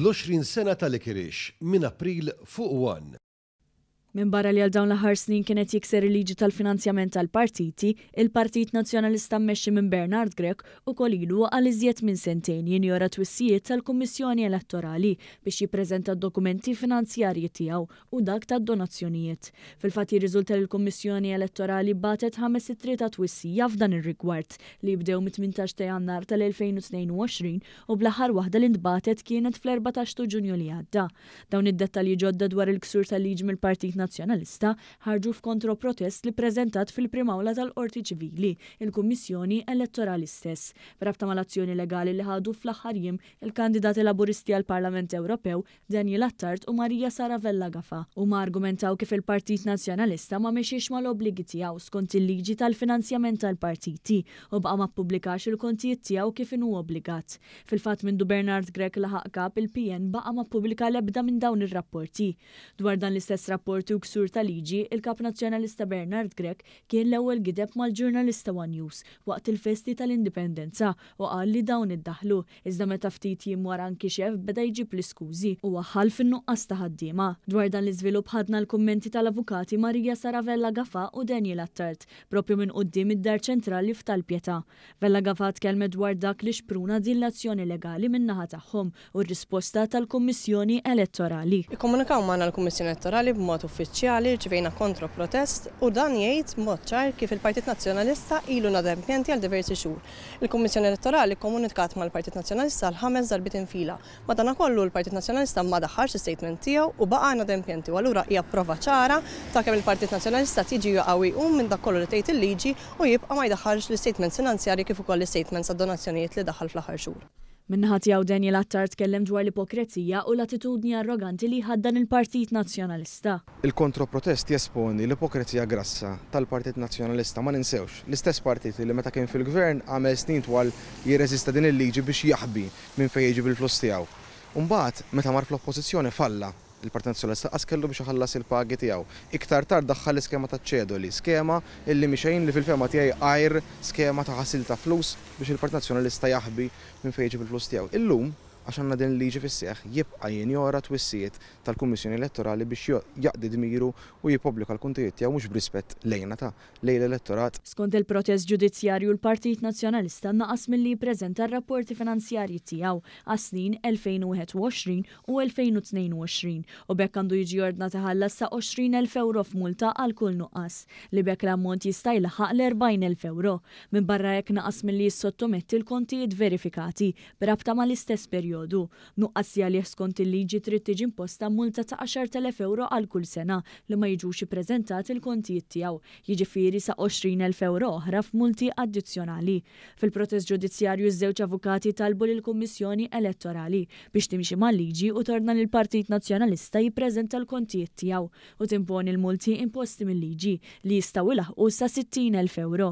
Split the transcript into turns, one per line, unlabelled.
L-20 sena ta' Likerix, minn April fuq one. Minbarra
li għal dawn l-aħħar snin kien qed jikser il-liġi tal-finanzjament tal-partiti, il-Partit Nazzjonalista mmexxi minn Bernard Grech ukoll ilu għal iżjed minn sentejn jinjora twissijiet tal-Kummissjoni Elettorali biex jippreżenta d-dokumenti finanzjarji tiegħu u dak tad-donazzjonijiet. Fil-fatt jirriżulta li l-Kummissjoni Elettorali bagħtet ħames ittri ta' twissija f'dan ir-rigward, li jibdew mit-tmintax ta' Jannar tal-2022 u bl-aħħar waħda li ntbagħtet kienet fl-erbatax tu Ġunju li għadda. Dawn id-dettalji ġodda dwar il-ksur tal-liġi mill-Partit Nazzjonalista ħarġu f'kontroprotest li ppreżentat fil-Prim Awla tal-Qorti Ċivili il-Kummissjoni Elettorali stess, b'rabta mal-azzjoni legali li ħadu fl-aħħar jiem il-kandidati Laburisti għall-Parlament Ewropew Daniel Attard u Maria Sara Vella Gafa huma argumentaw kif il-Partit Nazzjonalista ma mexiex mal-obbligi tiegħu skont il-liġi tal-finanzjament tal-partiti u baqa' ma ppubblikax il-kontijiet tiegħu kif inhu obbligat. Fil-fatt mindu Bernard Grech laħaq kap il-PN baqa' ma ppubblika l-ebda minn dawn ir-rapporti. Dwar dan l-istess rapporti u ksur ta' liġi, il-Kap Nazzjonalista Bernard Grech kien l-ewwel gideb mal-ġurnalista one News waqt il-festi tal-Indipendenza u qal li dawn iddaħħlu Iżda meta ftit jiem wara nkixef, beda jġib l-iskużi u waħħal fin-nuqqas ta' ħaddiema. Dwar dan l-iżvilupp ħadna l-kummenti tal-Avukati Maria Sara Vella Gafà u Daniel Attard, proprju minn quddiem id-Dar Ċentrali f'Tal Pietà. Vella Gafà tkellmet dwar dak li xpruna din l-azzjoni legali min-naħa tagħhom u r-risposta tal-Kummissjoni Elettorali. Ikkomunikaw magħna
l-Kummissjoni Elettorali b'mod uffiċjali, rċivejna kontro-protest u dan jgħid b'mod ċar kif il-Partit Nazzjonalista ilu inadempjenti għal diversi xhur Il-Kummissjoni Elettorali kkomunikat mal-Partit Nazzjonalista għal ħames darbiet infila. Madanakollu, l-Partit Nazzjonalista ma daħħalx l-istatement tiegħu u baqa' inadempjenti u allura hija prova ċara ta' kemm il-Partit Nazzjonalista qed jiġi jaqa' u jqum minn dak kollu li tgħid il-liġi u jibqa' ma jdaħħalx l-istatements finanzjarji kif ukoll l-istatements tad-donazzjonijiet li daħħal fl-aħħar xhur. Min-naħa tiegħu Daniel
Attard tkellem dwar l-ipokrezija u l-attitudni arroganti li jħaddan il-Partit Nazzjonalista. Il-kontroprotest
jesponi l-ipokrezija grassa tal-Partit Nazzjonalista. Ma ninsewx, l-istess partit li meta kien fil-Gvern għamel snin twal jirreżista din il-liġi biex jaħbi minn fejn jiġib il-flus tiegħu. Imbagħad, meta mar fl-Oppożizzjoni falla. Il-Partit Nazzjonalista qas kellu biex iħallas il-pagi tiegħu. Iktar tard daħħal l-iskema taċ-ċedoli, skema illi mhi xejn li fil-fehma tiegħi għajr skema ta' ħasil ta' flus biex il-Partit Nazzjonalista jaħbi minn fejn iġib il-flus tiegħu. Illum, għax għandna din il-liġi fis-seħħ, jibqa' jinjora twissijiet tal-Kummissjoni Elettorali biex jaqdi dmiru u jippubblika l-kontijiet tiegħu mhux b'rispett lejna ta' lejn l-elettorat. Skont il-protest
ġudizzjarju l-Partit Nazzjonalista naqas milli jippreżenta r-rapporti finanzjarji tiegħu għas-snin 2021 u 2022 u b'hekk għandu jiġi ordnat iħallas sa 20,000 ewro f'multa għal kull nuqqas, li b'hekk l-ammont jista' jlaħħaq l-40,000 ewro. Minbarra hekk naqas milli jissottometti l-kontijiet verifikati b'rabta mal-istess perjodu. Nuqqas li għalih skont il-liġi trid tiġi imposta multa ta' 10,000 ewro għal kull sena li ma jiġux ippreżentati l-kontijiet tiegħu, jiġifieri sa 20,000 ewro oħra f'multi addizzjonali. Fil-proċess ġudizzjarju ż-żewġ avukati talbu lill-Kummissjoni Elettorali biex timxi mal-liġi u tordna lill-Partit Nazzjonalista jippreżenta l-kontijiet tiegħu u timponi l-multi imposti mil-liġi li jistgħu ilaħħqu sa 60 elf ewro.